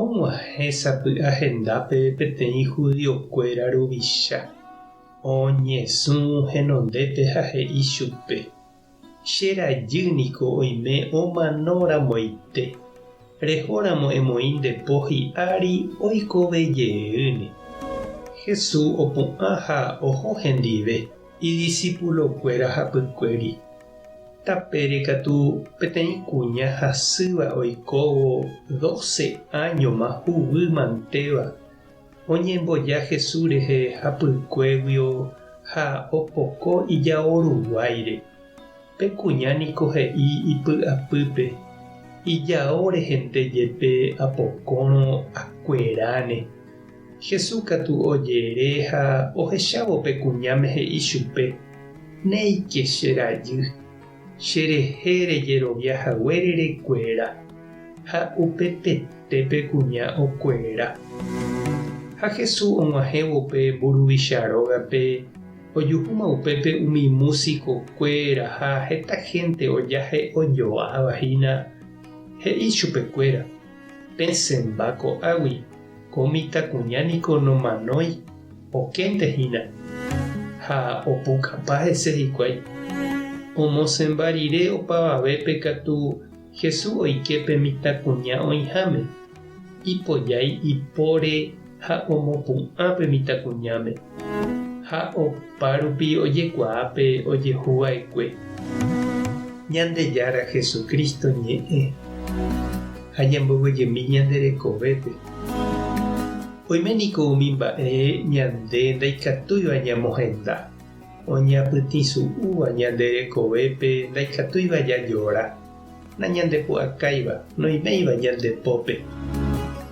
Og̃uahẽ sapy'a hendápe peteĩ judiokuéra ruvicha, oñesũ henondépe ha he'i chupe, Che rajy niko oime omanórãmoite, rehóramo emoĩ nde po hi'ári oikove jeýne. Jesús opu'ã ha oho hendive Idisipulokuéra hapykuéri. Tapére katu peteĩ kuña hasýva oikóvo doce áñoma huguy mantéva, oñemboja Jesús rehe hapykuéguio ha opoko ijao ruguáire. Pe kuña niko he'i ipy'apýpe, Ijao rehende jepe apokõrõ akueráne. Jesús katu ojere ha ohechávo pe kuñáme he'i chupe, Néike che rajy, cherehe rejerovia haguére rekuera. Ha upepete pe kuña okuera. Ha Jesús og̃uahẽvo pe mburuvicha rógape, Ojuhúma upépe umi músiko kuéra ha heta hénte ojahe ojo'ãva hína, he'i chupe kuéra, Pesẽmba ko'águi, ko mitãkuña niko nomanói, okénte hína. Ha opukapa hese hikuái. Omosẽmba rire opavavépe katu Jesús oike pe mitãkuña oĩháme, ipojái ipóre ha omopu'ã pe mitãkuñáme, ha opárupi ojekuaa pe ojehu va'ekue. Ñandejára Jesucristo ñe'ẽ ha ñambovyjemi ñande rekovépe. Oime niko umi mba'e ñande ndaikatúiva ñamohenda. Oñapytĩsu'úva ñande rekovépe ndaikatúiva jajora, nañandepu'akáiva, noiméiva ñande pópe.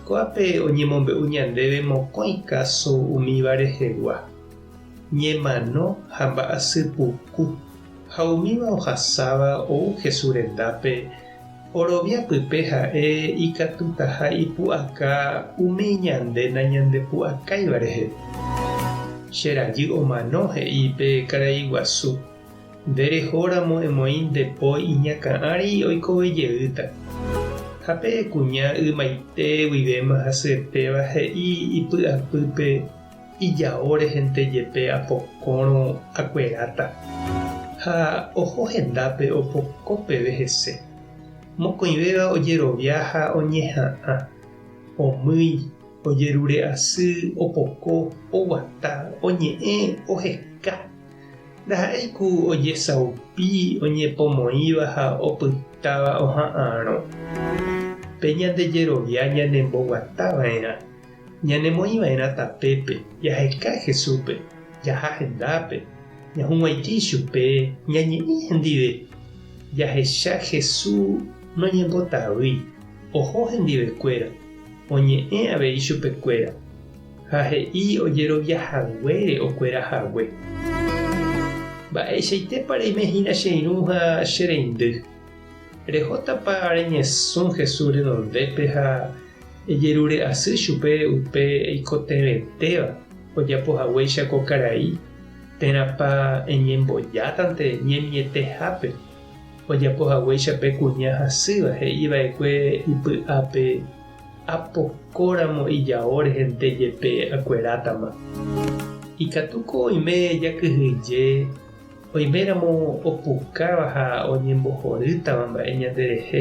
Ko'ápe oñemombe'u ñandéve mokõi káso umíva rehegua, ñemano ha mba'asy puku, ha umíva ohasáva ou Jesús rendápe, Orovia pype ha'e ikatutaha ipu'aka umi ñande nañandepu'akáiva rehe. Che rajy omano he'i pe karai guasu, Nde reho ramo emoĩ nde po iñakã'ari oikove jeýta. Ha pe kuña ymaite guivéma hasyetéva he'i ipy'apýpe Ijao rehente jepe apokõrõ akueráta, ha oho hendápe opoko peve hese. Mokõivéva ojerovia ha oñeha'ã, omýi, ojerure asy, opoko, oguata, oñe'ẽ, oheka. Ndaha'éi ku ojesaupi, oñepomoĩva ha opytáva oha'ãrõ. Pe ñande jerovia ñanemboguatava'erã. Ñanemoĩva'erã tapépe, jaheka'e Jesúspe, jaha hendápe, ñahug̃uaitĩ ichupe, ñañe'ẽ hendive, jahecha Jesús noñembotavýi, oho hendivekuéra, oñe'ẽ avei chupekuéra, ha he'i ojerovia haguére okuera hague. Mba'eichaitépa reime hína che irũ ha che reindy? Rehótapa reñesũ Jesús renondépe ha Ejerure'asy chupe upe eikotevẽtéva ojapo haguéicha ko karai, térãpa eñembojátante ñemietehápe ojapo haguéicha pe kuña hasýva he'iva'ekue ipy'ápe apokóramo ijao rehente jepe akuerátama. Ikatúko oime jakyhyje oiméramo opukáva ha oñembohorýtava mba'e ñanderehe.